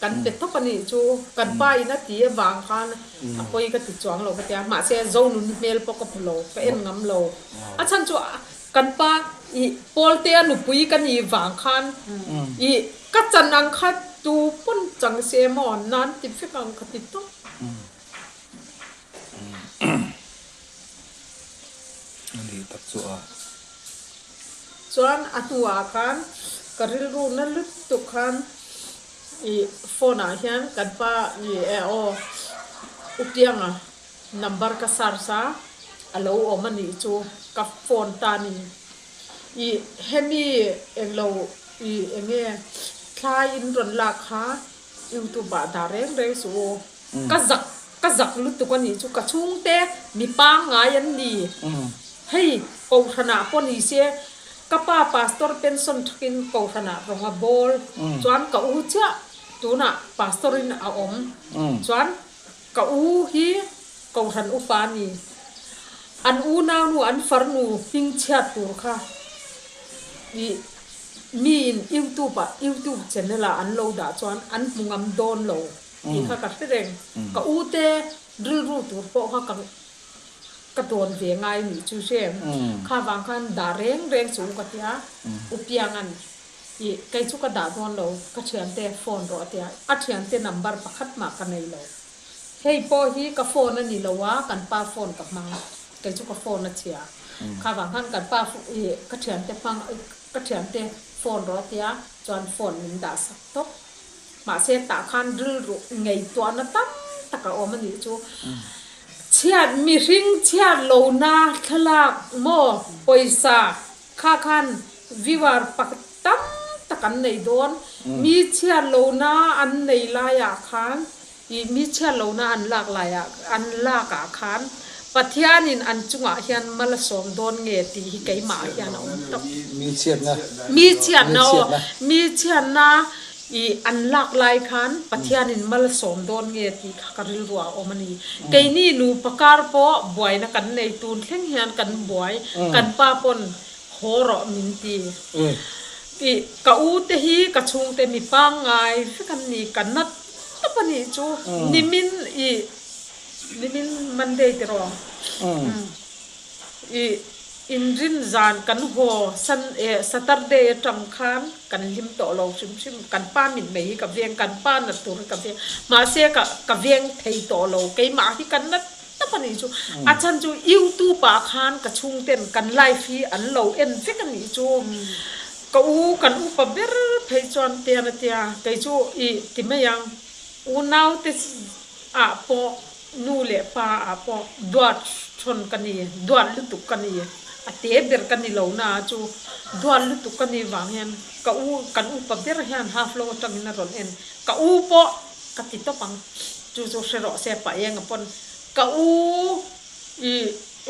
Kan pe tawp a nih chu, kan pa in a ti avang khan a pawi ka ti chuang lo ka tia, mahse zonun hmel pawh ka hmu lo, ka en ngam lo. A chhan chu kan pa i Paul te a nupui ka nih vang khan i ka chan ang kha tu pawn chang si em aw, nan ti vek ang ka ti tawp. Ani tak chu a. Chuan a hnuah khan ka rilru na lutuk khan i phone ah hian kan pa ni e aw u Pianga number ka search a a lo awm a nih chu ka phone tan in i hemi englo i enge thlai in rawn lak kha youtube ah dah reng reng suh u. ka zak ka zak lutuk a nih chu ka chhungte mi pangngai an ni hei Kohhranah pawh ni se ka pa pastor pension thakin Kohhranah rawng a bawl chuan ka u chiah tunah pastor in a awm chuan ka u hi Kohhran ufa a ni an u naunu an farnu hming chhiat tur kha i mi in YouTube ah YouTube channel ah an lo dah chuan an hmu ngam dawn lo. Tih kha ka hre reng. Ka u te rilru tur pawh kha ka ka tawn ve ngai nih chu hriain kha vang khan dah reng reng chu u ka ti a, u Piangan i kei chu ka dah dawn lo, ka thiante phone rawh a ti a, a thiante number pakhat mah ka nei lo. Hei pawh hi ka phone a ni lo a, kan pa phone ka hmang, kei chu ka phone a chhia. Kha vang khan kan pa i ka thiante hmang, ka thiante phone rawh a ti a, chuan phone min dah sak tawp. Mahse tah khan rilru ngaihtuahna tam tak a awm a nih chu. Chhiat mihring chhiat lohna thlalak maw pawisa kha khan viewer pakhat tam tak an nei dawn. Mi chhiat lohna an nei laiah khan I mi chhiar lohna an lak laiah an lakah khan Pathianin an chungah hian mal a sawm dawn nge tih hi keimahah hian a awm tawp. Mi chhiatna. Mi chhiatna aw. Mi chhiatna i an lak lai khan Pathianin mal a sawm dawn nge tih kha ka rilru ah a awm a ni. Keini nupa kar pawh buaina kan nei tun thleng hian kan buai, kan pa pawn haw rawh min ti. I ka ute hi ka chhungte mi pangngai vek an ni, ka nat Ka pahnih chu Nimin i Nimin Monday tirawng i inrin zan kan haw Sun e Saturday atang khan kan hlim tawh lo hrim hrim kan pa mitmei hi ka veng kan pa nattur hi ka veng mahse ka ka veng thei tawh lo keimah hi kan nat tap a nih chu a chhan chu youtube ah khan ka chhung ten kan live hi an lo en vek a nih chu ka u kan upa ber phei chuan te an tia kei chu i ti mai ang u nau te ah pawh nu leh pa ah pawh duat hrawn ka ni duat lutuk ka ni a te ber ka ni lo na chu duat lutuk ka ni vang hian ka u kan upa ber hian half lo atangin a rawn en ka u pawh Ka ti tawp ang, chu chu hre rawh se paenga pawn ka u i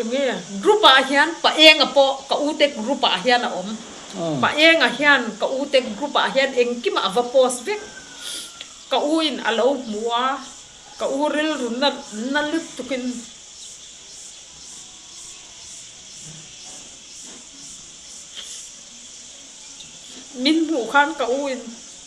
enge group ah hian paenga pawh ka ute group ah hian a awm. Paenga hian ka ute group ah hian engkima a va post vek. Ka u in a lo hmu a, ka u rilru na na lut tukin min hmuh khan ka u in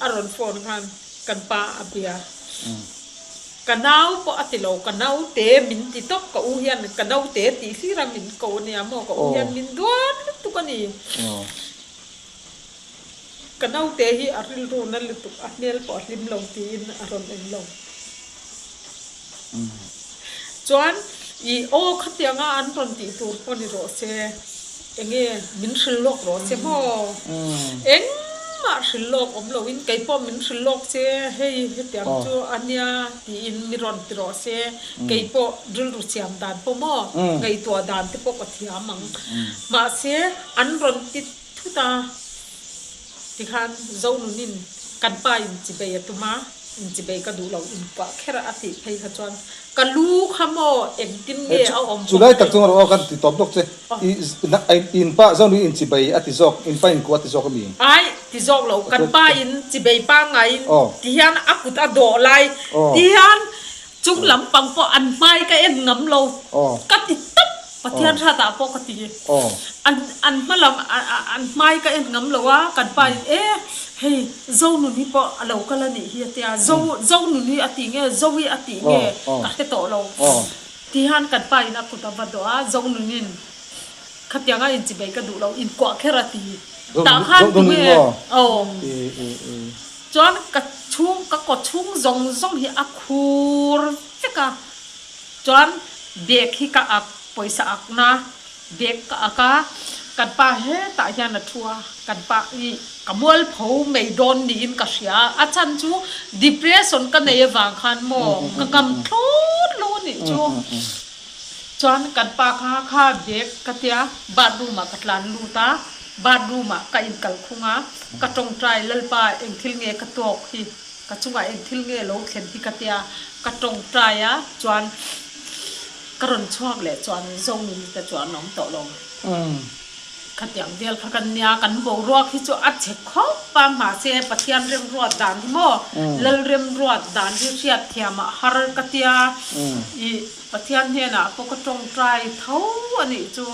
A rawn phone khan kan pa a bia. Ka nau pawh a ti lo, ka naute min ti tawp, ka u hian ka naute tih hlir a min ko ania maw, ka u hian min duan lutuk a ni. Ka naute hi a rilru na lutuk, a hmel pawh a hlim lo tiin a rawn en lo. Chuan i aw khatianga an rawn tih tur pawh ni rawh se, enge min hrilh lawk rawh se maw? Engmah hrilh lawk awm loin kei pawh min hrilh lawk se, hei hetiang chu a nia tiin mi rawn ti rawh se, kei pawh rilru siam dan pawh maw? Ngaihtuah dan te pawh ka thiam ang. Mahse, an rawn ti thut a. Tikhan Zonunin kan pa inchibei a tum a, inchibei ka duh lo, inpuah kher a, a tih phei kha chuan ka lu kha maw engtin nge a awm bawk mai. Chulai tak chuan rawh aw kan ti tawp zawk che. I in pa Zonu inchibei a ti zawk, in pa inkuh a ti zawk a mi? Ai, ti zawk lo, kan pa inchibei pangaiin tihian a kut a dawh lai tihian Chung lampang pawh an hmai ka en ngam lo ka ti tawp Pathian hratah pawh ka ti an hma lam an hmai ka en ngam lo a kan pa in e hei Zonun hi pawh a lo kal a nih hi a ti a Zonun hi a ti nge Zoe a ti nge ka hre tawh lo ti han kan pa in a kut a va dawh a Zonun in khatiang a inchi bei ka duh lo inkuah kher a ti tah khan tunge aw. Chuan ka chhung ka kaw chhung zawng zawng hi a khur vek a, chuan bag hi ka ak pawisa akna bag ka ak a, kan pa hetah hian a thu a, kan pa hi ka mual pho mai dawn niin ka hria a, a chhan chu depression ka nei avang khan maw ka kam thlawt lo anih chu. Chuan kan pa kha kha bag ka tia bathroom ah ka tlan lut a, bathroom ah ka in kal khung a, ka tawngtai Lalpa eng thil nge ka tawk hi, ka chungah eng thil nge lo thlen hi ka tia ka tawngtai a, chuan ka rawn chhuak leh chuan Zonin te chu an awm tawh lo. Khatiang vel kha kan nia, kan boruak hi chu a chhe khawp a, mahse Pathian remruat dan hi maw, Lal remruat dan hi hriat thiamah har ka tia, ih. Pathian hnenah pawh ka tawng try tho a nih chu.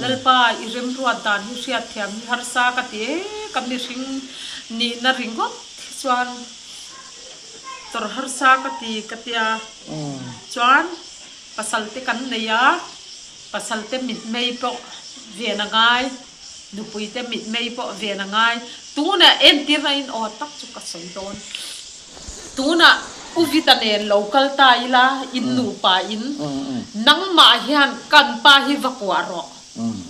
Lalpa, i remruat dan hi hriatthiam hi harsa ka ti e, ka mihring nihna ringawt hi chuan chawr harsa ka ti ka ti a, chuan pasalte kan nei a, pasalte mitmei pawh ven a ngai, nupuite mitmei pawh ven a ngai, tunah entirna in aw tak chu ka sawi dawn. Tunah U Vita nen lo kal ta ila, in nupa in, Nangmah hian kan pa hi va kuah rawh,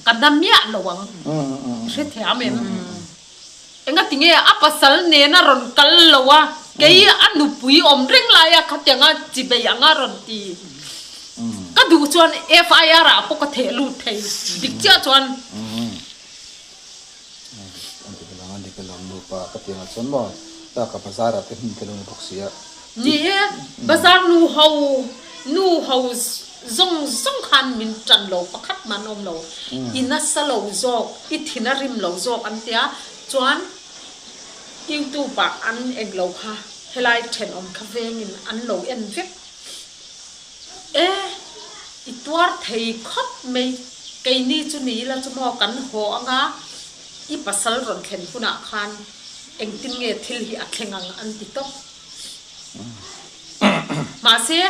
ka hna miah lo ang, i hre thei am em? Engatinge a pasal nen a rawn kal lo a, kei a nupui awm reng laia khatiang a chi bei ang a rawn ti. Ka duh chuan FIR ah pawh ka theh lut thei dik chiah chuan. Ni hi bazar nu ho, nu ho zawng zawng khan min tan lo, pakhat man awm lo. I nasa lo zawk, i thin a rim lo zawk an tia, chuan YouTube ah an eng lo kha, helai thenawm kha vengin an lo en vek. E, i tuar thei khawp mai, keini chu ni ila chu maw kan haw anga, i pasal rawn thlen hunah khan engtin nge thil hi a thleng ang an ti tawp. Mahse,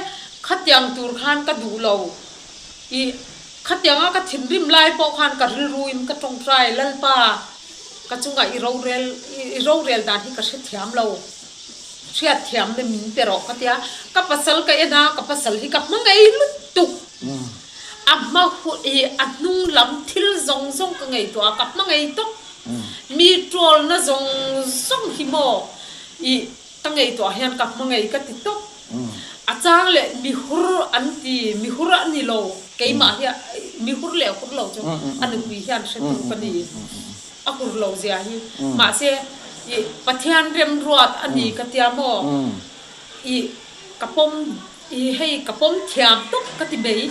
khatiang tur khan ka duh lo, i khatianga ka thinrim lai pawh khan ka rilruin ka tawngtai, Lalpa, ka chungah i rorel, i rorel dan hi ka hrethiam lo. Hriatthiam na min pe rawh ka ti a, ka pasal ka en a, ka pasal hi ka hmangei lutuk. A hma a hnung lam thil zawng zawng ka ngaihtuah a, ka hmangei tawp. Mi tawlna zawng zawng hi maw i ka ngaihtuah hian ka hmangei ka ti tawp. A chang leh mihur an ti, mihur a ni lo, keimah hi mihur leh hur lo chu a nupui hian hretu ka ni. A kur lo zia hi. Mahse, i Pathian remruat a ni ka tia maw? I ka pawm, i hei ka pawm thiam tawp ka ti mai.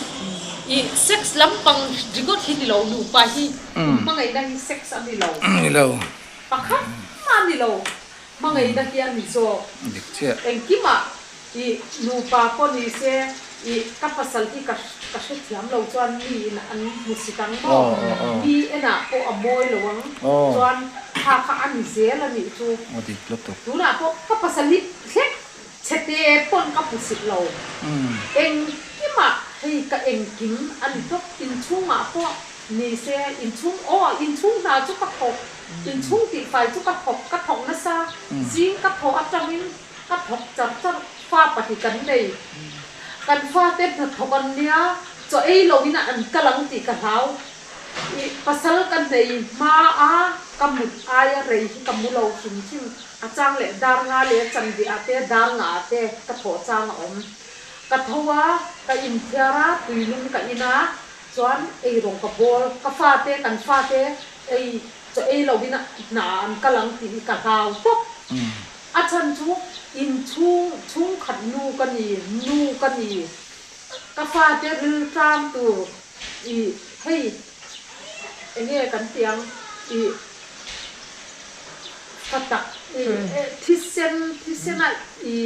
I sex lampang rigawt hi ni lo, nupa hi, in hmangaihna hi sex a ni lo, pakhat a ni lo. Hmangaihna hian ni zawk dik chiah. Engkimah i nupa pawh ni se i ka pasal hi ka ka hre thiam lo chuan mi in an hmu si tang maw? Hi enah pawh a mawi lo ang chuan kha kha a ni zel a nih chu. Tunah pawh ka pasal hi hlek. Chhete pawn ka hmu sih lo. Engkimah hei ka engkim a ni tawp. Inchhungah pawh nise inchhung aw inchhung hna chu ka thawk, inchhung tihfai chu ka thawk. Ka thawk nasa zing ka thaw atangin ka thawk char char. Fa pahnih kan nei. Kan fate hnathawk an nia, chaw ei loin a an kal ang tih ka hlau. I pasal ka hneih hmaa ka mut aia rei hi ka mu lo hrim hrim. A chang leh dar nga leh a chan bih ah te dar ngah ah te ka thawh chang a awm. Ka tho a, ka inthiar a, tui lum ka in a, chuan eirong ka bawl. Ka fa te, kan fa te ei chaw ei lo in a hna ah an kal ang tih hi ka hlau tawp. A chan chu in chhung chhungkhat nu ka ni, nu ka ni. Ka fa te riltlam tur i hei. Enge kan tih ang i hla tak i thisen thisen a i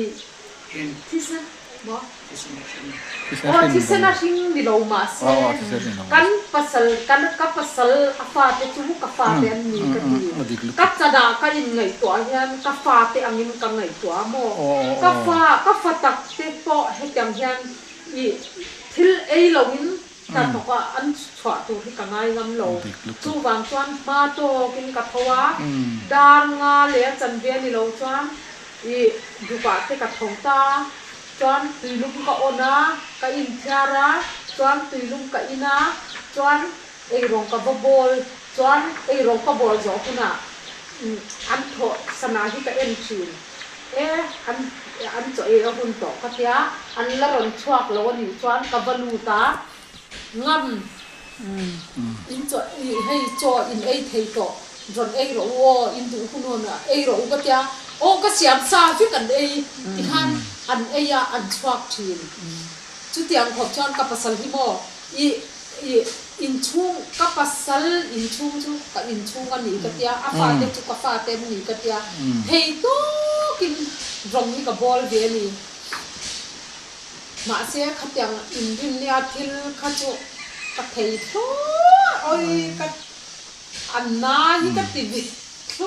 thisen maw aw thisen a hring ni lo mahse kan pasal kan ka pasal a fate chu ka fate an ni ka ti ka chanah ka in ngaihtuah hian ka fate ang in ka ngaihtuah a maw ka fa ka fa tak te pawh hetiang hian i thil ei lo in Hnathawk ah an chhuah tur hi ka ngai ngam lo. Chu vang chuan hma tawk in ka tho a, dar nga leh a chanve ni lo chuan i duk ah te ka tho ta chuan tui lum ka on a, ka in thiar a chuan tui lum ka in a chuan ei rawng ka va bawl chuan ei rawng ka bawl zawh hun ah an thawh sana hi ka en thin. E, an an chaw e a hun tawh ka tia, an la rawn chhuak lo a nih chuan ka va lut a, ngam, in chaw i hei chaw in ei thei tawh, rawn ei rawh u aw, in duh hun aw, ei rawh u ka tia, aw ka siam sa vek an ei tikhan an ei a, an chhuak thin. Chutiang khawp chuan ka pasal hi maw? I i inchhung, ka pasal inchhung chu ka inchhung a ni ka tia, a fate chu ka fate an ni ka tia. Phei tawkin rawng hi ka bawl ve a ni. Mahse khatiang inrin nia thil kha chu ka thei thlur awi ka a na hi ka ti ve thlur.